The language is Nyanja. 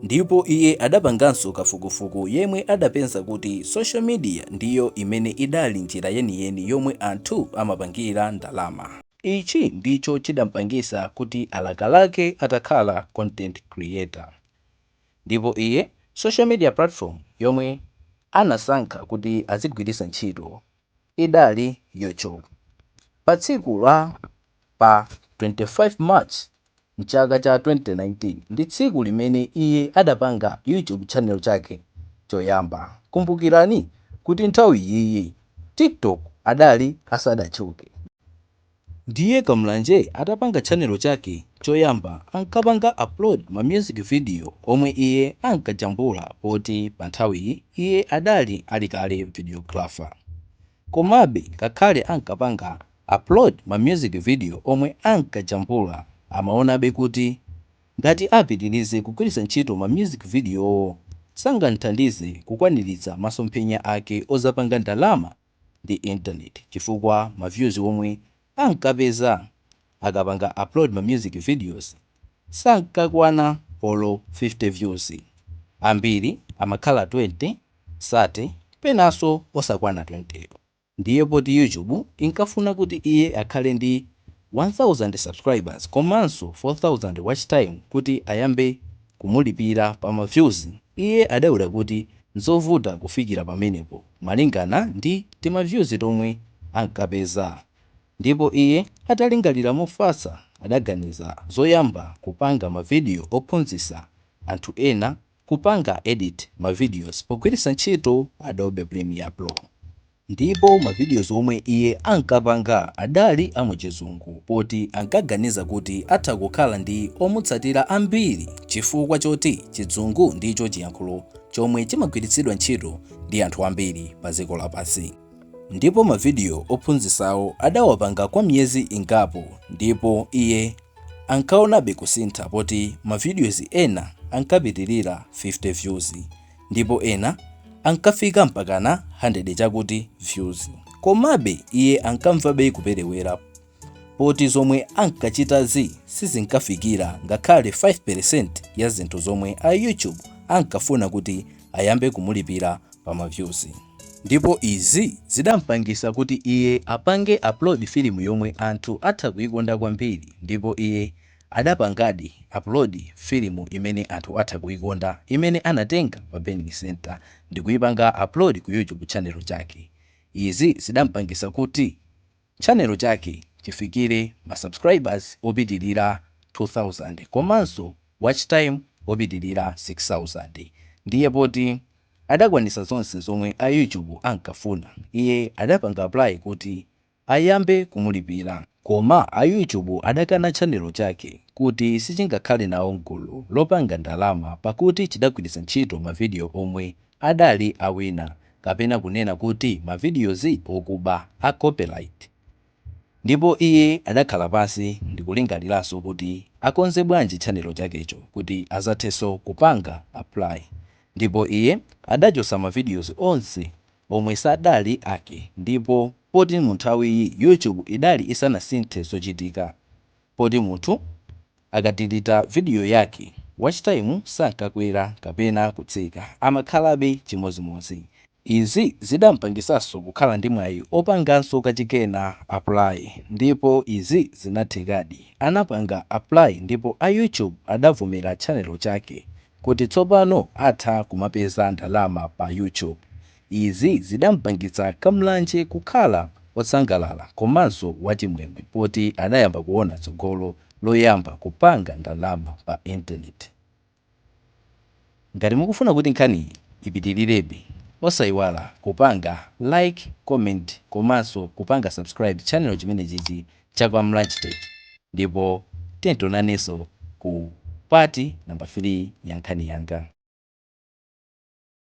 ndipo iye adapanganso kafukufuku yemwe adapeza kuti social media ndiyo imene idali njira yeniyeni yomwe anthu amapangira ndalama ichi ndicho chidampangisa kuti alakalake atakhala content creator ndipo iye social media platform yomwe anasankha kuti azigwirisa ntchito idali YouTube. Pa tsiku la pa 25 March mchaka cha 2019 ndi tsiku limene iye adapanga YouTube channel chake choyamba. Kumbukirani kuti nthawi iyiyi TikTok idali isadatchuke. Ndiye Kamlanje atapanga tchanelo chake choyamba ankapanga upload ma music video omwe iye ankajambula poti pa nthawiyi iye adali ali kale videographer. Komabe ngakhale ankapanga upload ma music video omwe ankajambula amaonabe kuti ngati apitilize kugwiritsa ntchito ma music videowo sangam'thandize kukwaniritsa masomphenya ake odzapanga ndalama ndi intaneti chifukwa ma views omwe ankapeza akapanga upload ma music videos sankakwana olo 50 views, ambiri amakhala 20, 30 penanso osakwana 20. Ndiye poti YouTube inkafuna kuti iye akhale ndi 1000 subscribers komanso 4000 watch time kuti ayambe kumulipira pa ma views, iye adaona kuti n'zovuta kufikira pamenepo. malingana ndi timavyuzi tomwe ankapeza ndipo iye atalingalira mofatsa adaganiza zoyamba kupanga mavidiyo ophunzitsa anthu ena kupanga edit ma videos pogwiritsa ntchito Adobe Premiere Pro ndipo ma videos omwe iye ankapanga adali a mu chizungu poti ankaganiza kuti atha kukhala ndi omutsatira ambiri chifukwa choti chizungu ndicho chiyankhulo chomwe chimagwiritsidwa ntchito ndi anthu ambiri pa dziko lapansi. Ndipo mavidiyo ophunzitsawo adawapanga kwa miyezi ingapo ndipo iye ankaonabe kusintha poti mavidiyozi ena ankapitirira 50 views ndipo ena ankafika mpakana 100 chakuti views. Komabe iye ankamvabe kuperewera poti zomwe ankachitazi sizinkafikira ngakhale 5% ya zinthu zomwe a YouTube ankafuna kuti ayambe kumulipira pa mavyuzi. Ndipo izi zidampangisa kuti iye apange upload filimu yomwe anthu atha kuikonda kwambiri ndipo iye adapangadi upload filimu imene anthu atha kuikonda imene anatenga pa Burning Centre ndikuipanga upload ku YouTube channel chake. Izi zidampangisa kuti. Channel chake chifikile ma subscribers opitilira 2000 komanso watch time opitilira 6000 ndiye poti adakwanisa zonse zomwe a YouTube ankafuna iye adapanga apply kuti ayambe kumulipira koma a YouTube adakana channel chake kuti sichingakhale nawo mgulu lopanga ndalama pakuti chidagwiritsa ntchito ma video omwe adali a wina kapena kunena kuti ma videos okuba a copyright ndipo iye adakhala pansi ndikulingaliranso kuti akonze bwanji tchanelo chakecho kuti azathenso kupanga apply ndipo iye adachotsa ma videos onse omwe sadali ake ndipo poti munthawiyi YouTube idali isanasinthe zochitika poti munthu Akadilita vidiyo yake, watchtime sankakwera kapena kutsika, amakhalabe chimodzimodzi. Izi zidampangitsanso kukhala ndi mwayi opanganso kachikena apply ndipo izi zinathekadi. Anapanga apply ndipo a YouTube adavomera tchanelo chake kuti tsopano atha kumapeza ndalama pa YouTube. Izi zidampangitsa Kamlanje kukhala osangalala komanso wachimwemwe poti adayamba kuona tsogolo loyamba kupanga ndalama pa internet. Ngati mukufuna kuti nkhaniyi ipitilirebe osaiwala kupanga like, comment komanso kupanga subscribe channel chimenechichi cha Kamlanje Tech ndipo tiye tionanenso ku part number 3 ya nkhani yanga.